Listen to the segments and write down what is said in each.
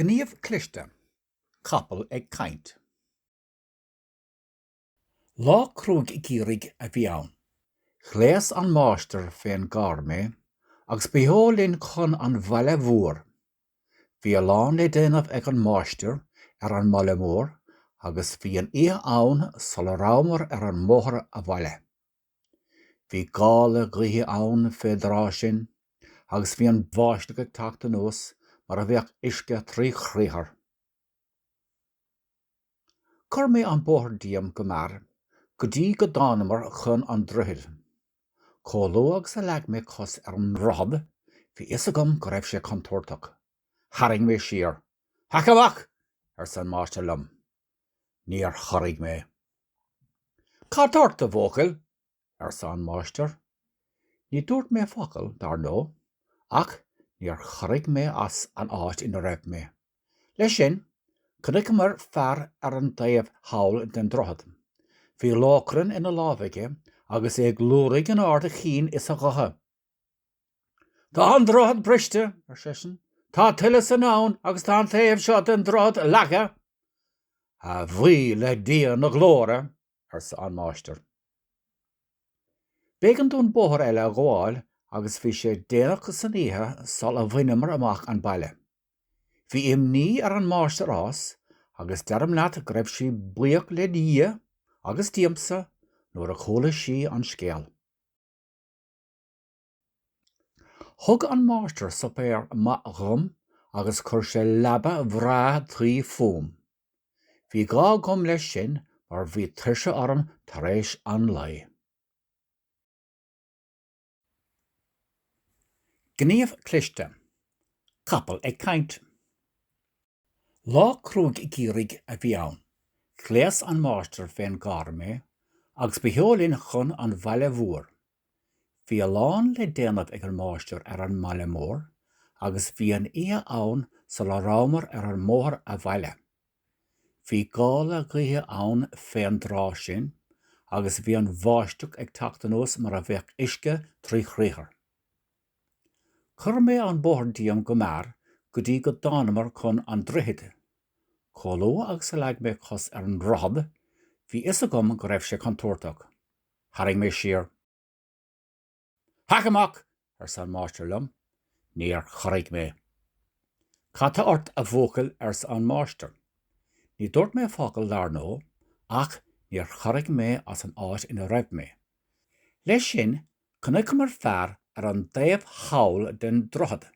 Gníomh cliste, capall ag caint. Lá cruaidh geimhridh a bhí ann. Ghléas an máistir fén gcarr mé agus ba sheo linn chun an bhaile mhór. Bhí a lán le déanamh ag an máistir ar an mbaile mór agus bhí an oíche ann sula rabhamar ar an mbóthar abhaile. Bhí gála gaoithe ann fén dtráth sin agus bhí an bháisteach ag teacht anuas mar a bheadh uisce trí chriathar. Chuir mé an bóthar díom go mear go dtí go dtánamar chun an droichid. Chomh luath agus a leag mé cos ar an ndroichead, bhí fhios agam go raibh sé contúirteach. Tharraing mé siar. Hac amach! arsa an máistir liom. Níor chorraigh mé. Cad tá ort, a bhuachaill? arsa an máistir. Ní dúirt mé focal, dar ndóigh, ach níor chorraigh mé as an áit ina raibh mé. Leis sin, chonaiceamar fear ar an taobh thall den droichead. Bhí lóchrann ina lámh aige agus é ag liúirigh in ard a chinn is a ghutha. Tá an droichead briste, ar seisean, tá tuile san abhainn agus tá an taobh seo den droichead leagtha. A bhuí le Dia na Glóire! arsa an máistir. B'éigean dúinn bóthar eile a ghabháil agus bhí sé déanach san oíche sula bhaineamar amach an baile. Bhí imní ar an máistreás agus deirim leat go raibh sí buíoch le Dia, agus díomsa, nuair a chuala sí an scéal. Thug an máistir suipéar maith dhom agus chuir sé leaba bhreá tuí fúm. Bhí gá agam leis sin mar bhí tuirse orm tar éis an lae. Gníomh cliste, capall ag caint. Lá cruaidh geimhridh a bhí ann. Ghléas an máistir fén gcarr mé agus ba sheo linn chun an bhaile mhór. Bhí a lán le déanamh ag an máistir ar an mbaile mór agus bhí an oíche ann sula rabhamar ar an mbóthar abhaile. Bhí gála gaoithe ann fén dtráth sin agus bhí an bháisteach ag teacht anuas mar a bheadh uisce trí chriathar. Chuir mé an bóthar díom go mear go dtí go dtánamar chun an droichid. Chomh luath agus a leag mé cos ar an ndroichead, bhí fhios agam go raibh sé contúirteach. Tharraing mé siar. Hac amach! arsa an máistir liom. Níor chorraigh mé. Cad tá ort a bhuachaill arsa an máistir. Ní dúirt mé focal, dar ndó, ach níor chorraigh mé as an áit ina raibh mé. Leis sin, Chonaiceamar fear ar an dtaobh thall den droichead.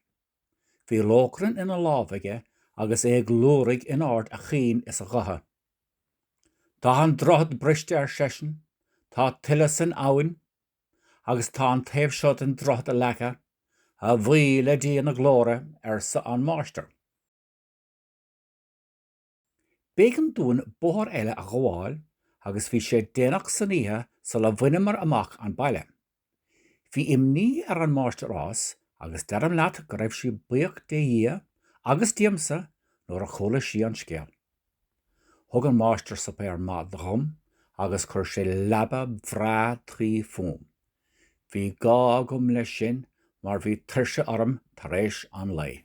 Bhí lóchrann ina lámh aige agus é ag liúraigh in ard a chinn is a ghutha. Tá an droichead briste, ar seisean, tá tuile san abhainn, agus tá an taobh seo den droichead leagtha, a bhuí le Dia na Glóire, arsa an máistir. B'éigean dúinn bóthar eile a ghabháil agus bhí sé déanach san oíche sula bhaineamar amach an baile. Bhí imní ar an máistreás agus deirim leat go raibh sí buíoch de Dhia agus díomsa nuair a chuala sí an scéal. Thug an Máistir suipéar maith dhom agus chuir sé leaba bhreá tuí fúm. Bhí gá agam leis sin mar bhí tuirse orm tar éis an lae.